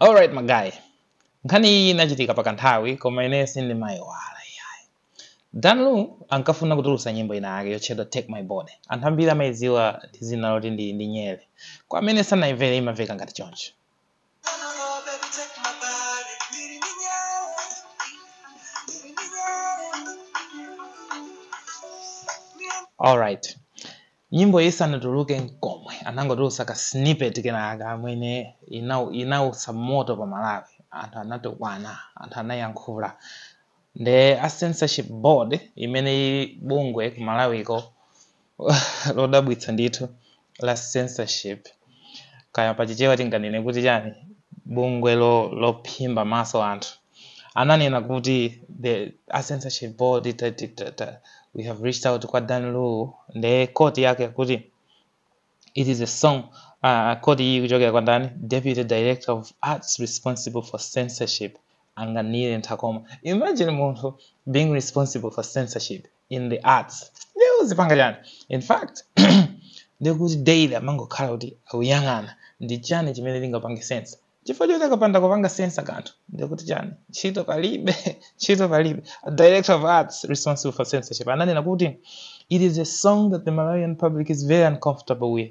alright magaye nkhani iyi inachitika pakanthawi koma ineyo sindimayiwala iyayi dan lu ankafuna kutulutsa nyimbo ina yake yotchedwa take my body anthu ambiri amayidziwa ndi dzina loti ndi, ndi nyere kwa amene sanayimvere imamveka ngati choncho alright Nyimboyi isanatuluke n'komwe, anangotulutsa ka snippet kenakake kamene inautsa moto pa Malawi. Anthu anatukwana, anthu anayankhula. Nde a Censorship Board, imene ili bungwe ku Malawiko lodabwitsa ndithu la censorship, kaya pa Chichewa tinganene kuti chani, bungwe lophimba maso anthu, ananena kuti a censorship board we have reached out kwa Dan Lu nde quote yake kuti it is a song uh, quote iyi kuchokera kwa ndani deputy director of arts responsible for censorship anganire nthakoma imagine munthu being responsible for censorship in the arts ndiye uzipanga chani in fact ndiye kuti daily amangokhala kuti akuyang'ana ndi chani chimene ndingapange censor chifukwa choti akapanda kupanga censor kanthu ndiye kuti chani ntchito palibe ntchito palibe a director of arts responsible for censorship ananena kuti it is a song that the malawian public is very uncomfortable with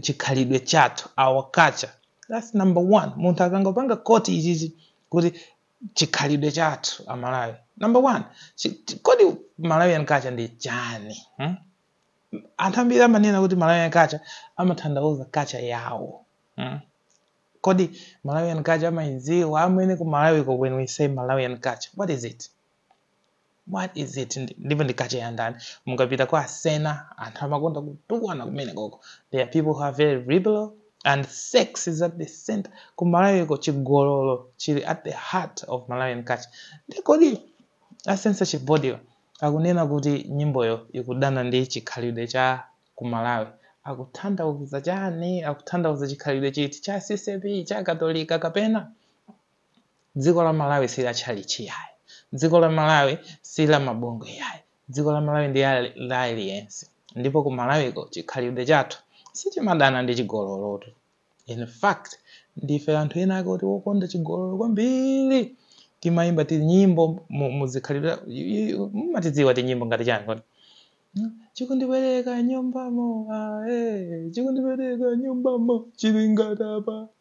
chikhalidwe chathu our culture that's number one munthu akangopanga quote ichichi kuti chikhalidwe chathu amalawi number one chi- chi- kodi malawian culture ndi chani hmm? anthu ambiri amanena kuti malawian culture amatanthauza culture yawo hmm? kodi malawian culture amayidziwa amene ku malawi ko when we say malawian culture what is it what is it ndipo ndi culture ya ndani mukapita kwa asena anthu amakonda kutukwana kumene koko there are people who are very liberal and sex is at the center ku malawiko chigololo chili at the heart of malawian culture nde kodi a censorship boardwa akunena kuti nyimboyo ikudana ndi chikhalidwe cha ku malawi akuthandauza chani akuthandauza chikhalidwe chiti cha ccap cha katolika kapena Dziko la Malawi si la tchalitchi yayi. Dziko la Malawi si la mabongwe yayi. Dziko la Malawi ndi la aliyense. Ndipo ku Malawiko chikhalidwe chathu sichimadana ndi chigololotu. In fact, ndife anthu ena ake oti wokonda chigololo kwambiri. Timayimba tinyimbo mu zikhalidwe mumatidziwa tinyimbo ngati chani kodi? Hmm? Chikundipereka nyumbamo, ah, eh, chikundipereka nyumbamo, chili ngati apa.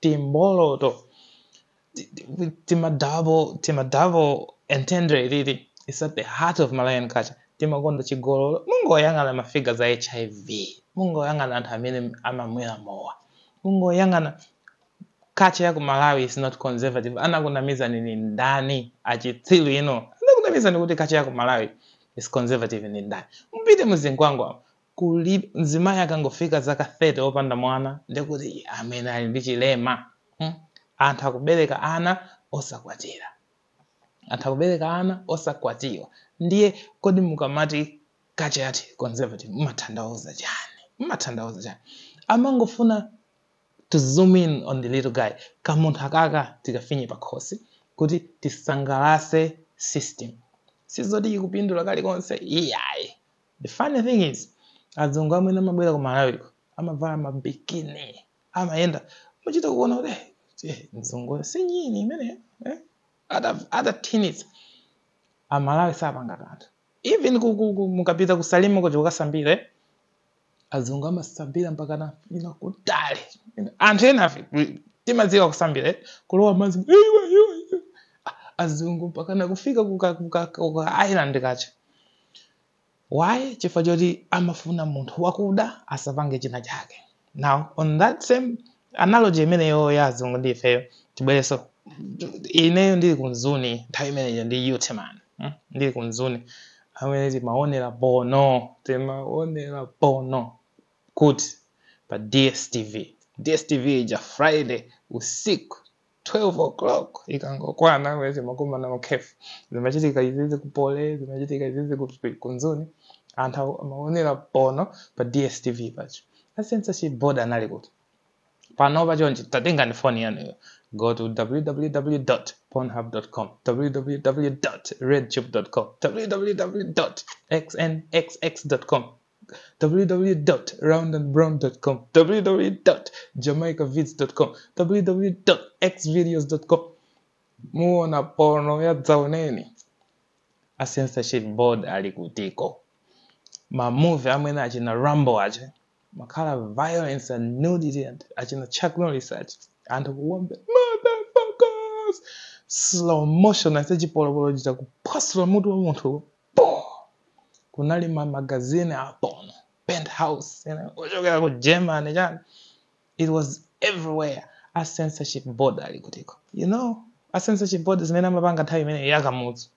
timboloto tima double tima double entendre titi it's at the heart of malawian culture timakonda chigololo mungoyang'ana mafiga za hiv mungoyang'ana anthu amene amamwera mowa mungoyang'ana culture ya ku malawi is not conservative anakunamizani ni ndani achitsilu inu anakunamizani kuti culture ya ku malawi is conservative ni ndani mupite mu Zingwangwa kuli mzimayi akangofika zaka 30 opanda mwana ndekuti amene ali ndi chilema hmm? anthu akubereka ana osakwatira anthu akubereka ana osakwatiwa ndiye kodi mukamati culture yathu conservative mumatanthauza chani mumatanthauza chani amangofuna to zoom in on the little guy kamunthu akaka tikafinye pakhosi kuti tisangalase system sizoti ikupindula kalikonse iyayi the funny thing is azungu amene amabwera ku malawiko amavala mabikini amayenda muchita kuona kuti "Eh, eh, mzungu si nyini imeneyo eh? Ata- atathinitsa, amalawi sapanga kanthu even ku- ku- ku- mukapita ku Salima kuti kukasambira eh? azungu amasambira mpakana ina kutali anthu enafe we- timadziwa kusambira eh? kulowa madzi iwe iwe iwe. Ah, azungu mpakana kufika kuka, kuka, kuka island kaja why chifukwa choti amafuna munthu wakuda asapange china chake now on that same analogy imeneyo ya azungu ndi ifeyo tibwereso ineyo ndili ku Mzuni nthawi imeneyo ndi youth man mm? ndili ku Mzuni amene timaonera porno timaonera porno kuti pa dstv dstv ija friday usiku 12 o'clock ikangokwana kuti timakumana mu cafe zimachitika izizi ku Poly zimachitika izizi ku ku Mzuni anthu aku- amaonera porno pa dstv pajapo a censorship board anali kuti pano pachonchi tatengani foni yanuyo go to www pornhub com www redtube com www xnxx com www.roundandbrown.com www.jamaicavids.com www.xvideos.com muona porno ya dzaoneni a censorship board ali kutiko mamuvi amene achina rambo ache makhala violence and nudity and achina chuck norris ache anthu kuwombe motherfuckers slow motion aise chipolopolo chita kuphwasula mutu wa munthu po kunali ma magazine a porno penthouse you know, kuchokera ku germany chani it was everywhere a censorship board ali kutiko you know a censorship board zimene amapanga nthawi imene ya kamuzu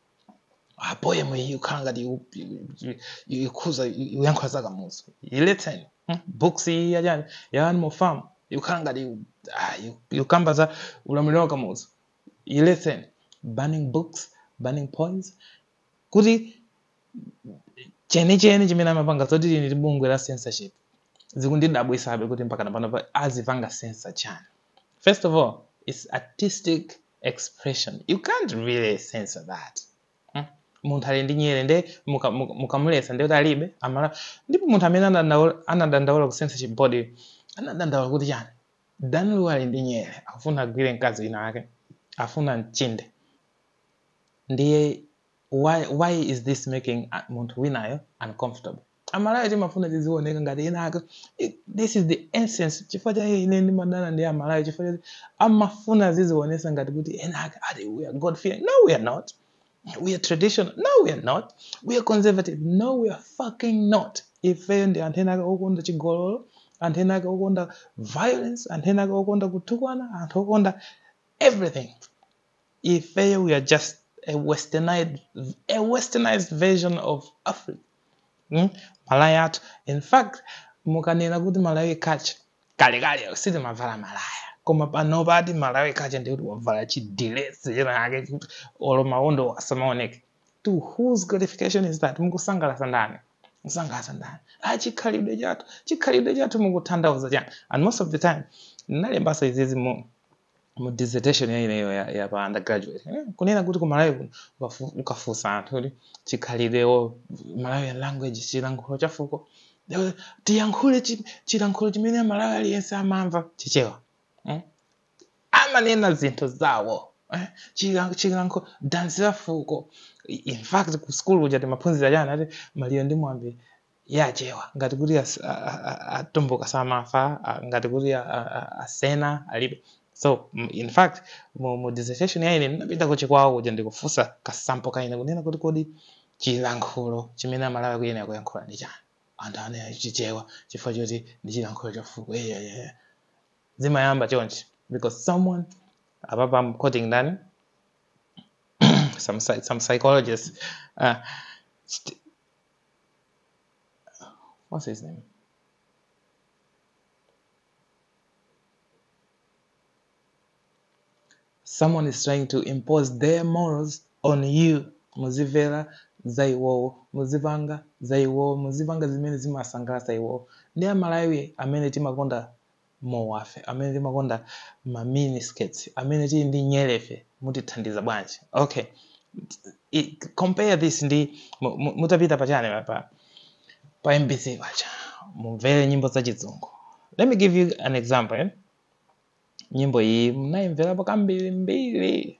a poem iyi ikukhala ngati iku- iku- ikukhuza uyankhula za kamuzu iletseni hmm? books iyi yachani ya animal farm ikukhala ngati iku- ah, iku- ikukamba za ulamuliro wa kamuzu iletseni banning books banning poems kuti chenicheni chimene amapanga zoti tili ndi bungwe la censorship zikundidabwisabe kuti mpakana pano pa- azipanga censor chani first of all its artistic expression you can't really censor that Hmm? munthu ali ndi nyere nde muka- muka- mukamulesa ndekuti alibe amala ndipo munthu amene anadandaula- anadandaula ku censorship board anadandaula kuti chani dan lu ali ndi nyere akufuna agwire mkazi wina ake afuna amchinde ndiye why, why is this making uh, munthu winayo uncomfortable amalawi timafuna tiziwoneka ngati enaake It- this is the essence chifukwa chake ine ndimadana ndi amalawi chifukwa choti amafuna aziziwonesa ngati kuti enaake ati we are god fearing no we are not we are traditional no we are not we are conservative no we are fucking not ifeyo ndi anthu enaake okonda chigololo anthu enaake okonda violence anthu enaake okonda kutukwana anthu okonda everything ifeyo we are just a westernized, a westernized version of africa mm? malaya athu in fact mukanena kuti malawi culture kalekale sitimavala malaya koma pano pati malawi culture ndikuti wavala chidilesi chinachake kuti olo mawondo asamaoneke to whose gratification is that mukusangalasa ndani musangalasa ndani ah chikhalidwe chathu chikhalidwe chathu mukuthandauza chani and most of the time ndinalembaso izizi mu mu dissertation ya ineyo ya, ya pa undergraduate eh, kunena kuti ku malawi kuno ukafu- ukafunsa anthu kuti chikhalidwe or malawian language chilankhulo chafuko eh, tiyankhule chi- chilankhulo chimene mmalawi aliyense amamva chichewa eh? amanena zinthu zawo eh? Chila- chilankho dansi la fuko I- in fact ku school kuja timaphunzira chani ati maliro ndi miyambo ya achewa ngati kuti as- a- a- a- atumbuka samafa a- ngati kuti a- a- a- asena alibe so m- in fact mu, mu dissertation ya ine ndinapita ku chikwawa kuja ndikufunsa kasample ka ine kunena kuti kodi chilankhulo chimene amalawi akuyenera kuyankhula ndi chani anthu anena chichewa chifukwa choti ndi chilankhulo chafuko eyeyeye zimayamba chonchi because someone apapa I'm quoting ndani some, psy- some psychologist uh, st- what's-his-name someone is trying to impose their morals on you muzimvera za iwowo muzipanga za iwowo muzipanga zimene zimasangalatsa iwowo ndi amalawi amene timakonda mowafe amene timakonda ma mini skirts amene tili ndi nyerefe mutithandiza bwanji okay I, compare this ndi mu- mu- mutapita pachani pa pa mbc paja mumvere nyimbo za chizungu let me give you an example eh? nyimbo iyi mnayimverapo kambirimbiri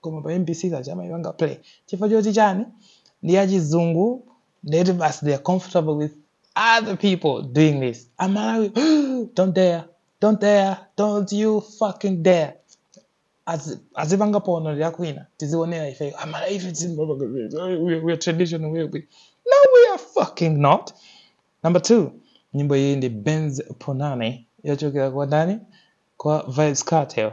koma pa mbc paja amaipanga play chifukwa choti chani ndi yachizungu ndiye kuti basi they are comfortable with other people doing this amalawi don't dare don't dare don't you fucking dare Azi- azipanga porno akwina tiziwonera ifeyo amalawi ife tizimbapanga we we are traditional we we no we are fucking not number two nyimbo iyi ndi benz punani yochokera kwa ndani kwa vybz kartel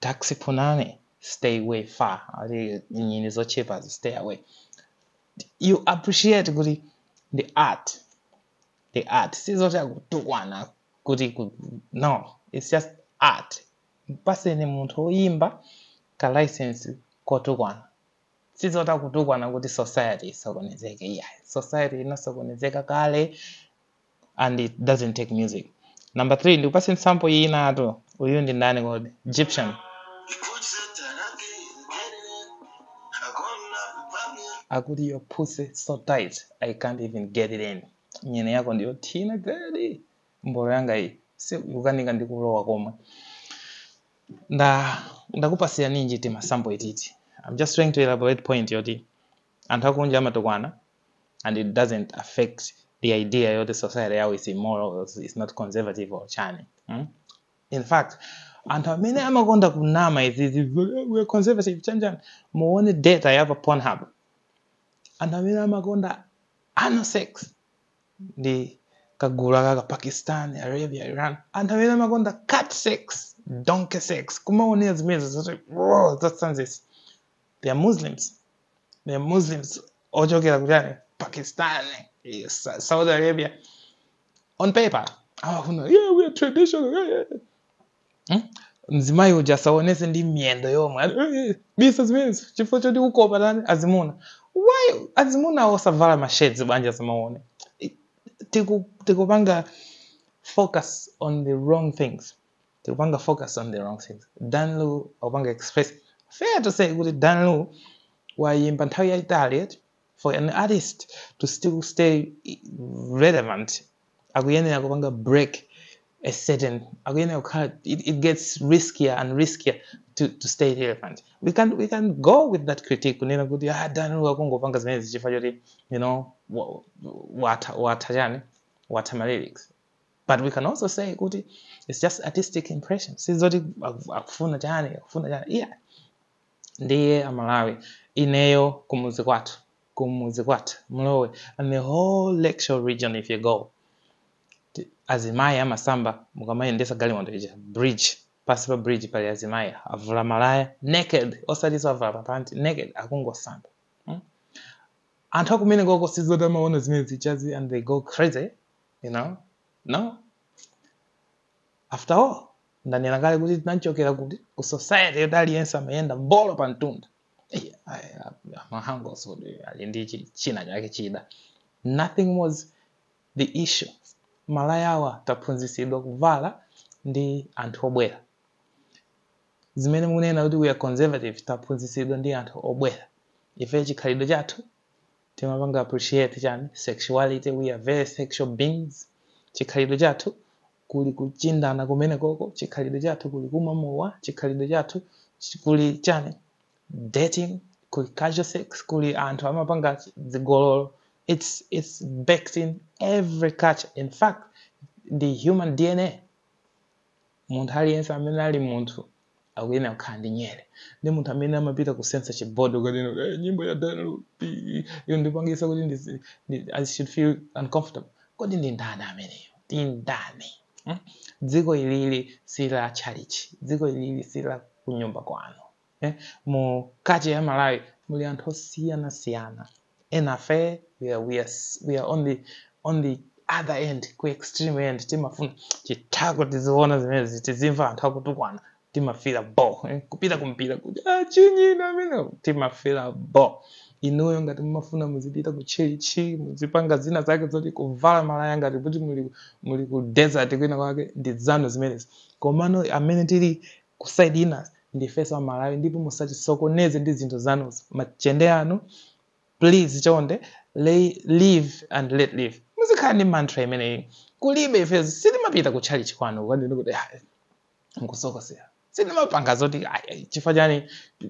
Taxi Punani stay way far ati nyini zotchipazi stay away you appreciate kuti the art the art sizoti akutukwana kuti ku- no it's just art mpaseni munthu woyimba ka license kotukwana sizoti akutukwana kuti society isokonezeke iyayi society inasokonezeka kale and it doesn't take music number 3 ndikupase sample inatu uyu ndi ndani kodi gyptian akuti your pussy so tight i can't even get it in nyini yako ndi yothina gadi mbolo yanga iyi ikukanika ndikulowa komwe nda ndakupasira ninji timasample ititi i'm just trying to elaborate point yoti Anthu akunja amatukwana and it doesn't affect the idea yoti society yawo is immoral, is not conservative or chani. Mm? In fact, anthu amene amakonda kunama izizi we're conservative chani chani muone data ya pa Pornhub. Anthu amene amakonda anal sex ndi kagulu kaka Pakistan, Arabia, Iran. Anthu amene amakonda cat sex, donkey sex, kumaonera zimenezi zoti whoa, that's They are Muslims. they are Muslims ochokera kuchani Pakistan eh, Sa- Saudi Arabia on paper amafuna yeah we are traditional yeah, yeah. Hmm? mzimayi uja asaonetse ndi miyendo yomwe Ati, "Eh, eh, bisa zimenezi chifukwa choti ukopa tani azimuna why azimuna osavala masheds ablind asamaone I- tiku- tikupanga focus on the wrong things tikupanga focus on the wrong things dan lu akupanga express fair to say kuti dan lu wayimba nthawi yayitali eti for an artist to still stay relevant akuyenera kupanga break a certain akuyenera kukhala it, it gets riskier and riskier to, to stay relevant we can, we can go with that critique kunena kuti ah dan lu akungopanga zimenezi chifukwa choti you know wa- wa- watha watha chani watha ma lyrics but we can also say kuti its just artistic impression sizoti akufuna chani akufuna chani iya ndiye amalawi ineyo kumuzi kwathu kumuzi kwathu mlowe and the whole lakeshore region if you go azimayi amasamba mukamayendesa galimoto ija bridge pansi pa bridge pali azimayi avula malaya naked osatiso avula papanti naked akungosamba hmm? anthu akumenekoko sizoti amaona zimenezi chani and they go crazy you know no after all ndanena kale kuti tinachokera kuti ku society yoti aliyense amayenda mbolo pa mtunda Eh, ayi, a- amahangos kuti ali ndi chi- china chake chida nothing was the issue malaya awa taphunzitsidwa kuvala ndi anthu obwera zimene munena kuti we are conservative taphunzitsidwa ndi anthu obwera ife chikhalidwe chathu timapanga appreciate chani sexuality we are very sexual beings chikhalidwe chathu kuli kuchindana kumenekoko chikhalidwe chathu kuli kumwa mowa chikhalidwe chathu chi- kuli chani dating kuli casual sex kuli anthu amapanga chi- zigololo it's, it's baked in every culture in fact ndi human dna munthu aliyense amene ali munthu akuyenera kukhala ndi nyere ndi munthu amene amapita ku censorship board kukanena kuti "Eh, nyimbo ya dan lu yondipangisa kuti ndizi- ndi- i should feel uncomfortable kodi ndi ndani ameneyo ndi ndani Hmm? dziko ilili si la tchalitchi dziko ilili si la kunyumba kwanu eh? mu culture ya malawi muli anthu osiyanasiyana enafe we are, we are, we are on, the, on the other end ku extreme end timafuna chithako tiziona zimenezi tizimva anthu akutukwana timafila bo eh, kupita kumpira kuti ah, chinyina amene timafila bo inuyo ngati mumafuna muzipita ku tchalitchi muzipanga zina zake zoti kuvala malaya ngati kuti muli, muli ku desert kwina kwake ndi zanu zimenezi komano amene tili ku side ina ndifeso amalawi ndipo musatisokoneze ndi zinthu zanuzo machende anu please chonde li- live and let live muzikhala ndi mantra imeneyi kulibe ifezo sitimapita ku tchalitchi kwanu kukanena kuti "Ah, mukusokosera sitimapanga zoti "Ai, ai, chifukwa chani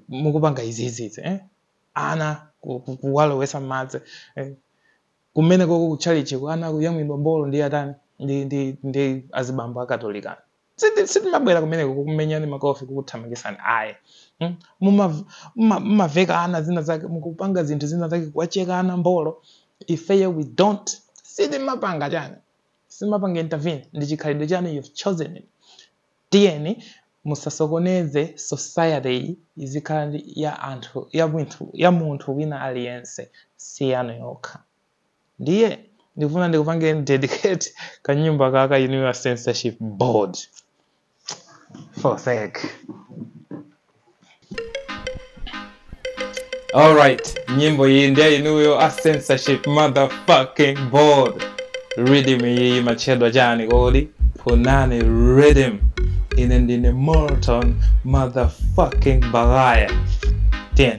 mukupanga iziizizi eh? ana ku- ku- kuwalowesa madzi eh? kumenekoko ku tchalitchiko ana kuyamwidwa mbolo ndi atani ndi, ndi, ndi azibambo akatolika Siti- sitimabwera kumeneko kukumenyani makofi kukuthamangitsani ayi Mm? Muma- muma- mumaveka ana zina zake mukupanga zinthu zina zake kuwacheka ana mbolo ifeyo we don't sitimapanga chani simapanga intervene ndi chikhalidwe chani you've chosen it tiyeni musasokoneze society iyi izikhala ndi ya anthu ya munthu ya munthu wina aliyense si yanu yokha ndiye ndikufuna ndikupangeni dedicate kanyimbo ka ka inuyo a censorship board for sake alright nyimbo iyi ndi ya inuyo a censorship motherfucking board rhythm iyi imatchedwa chani kodi punani rhythm ine ndine morton motherfucking bagaya 10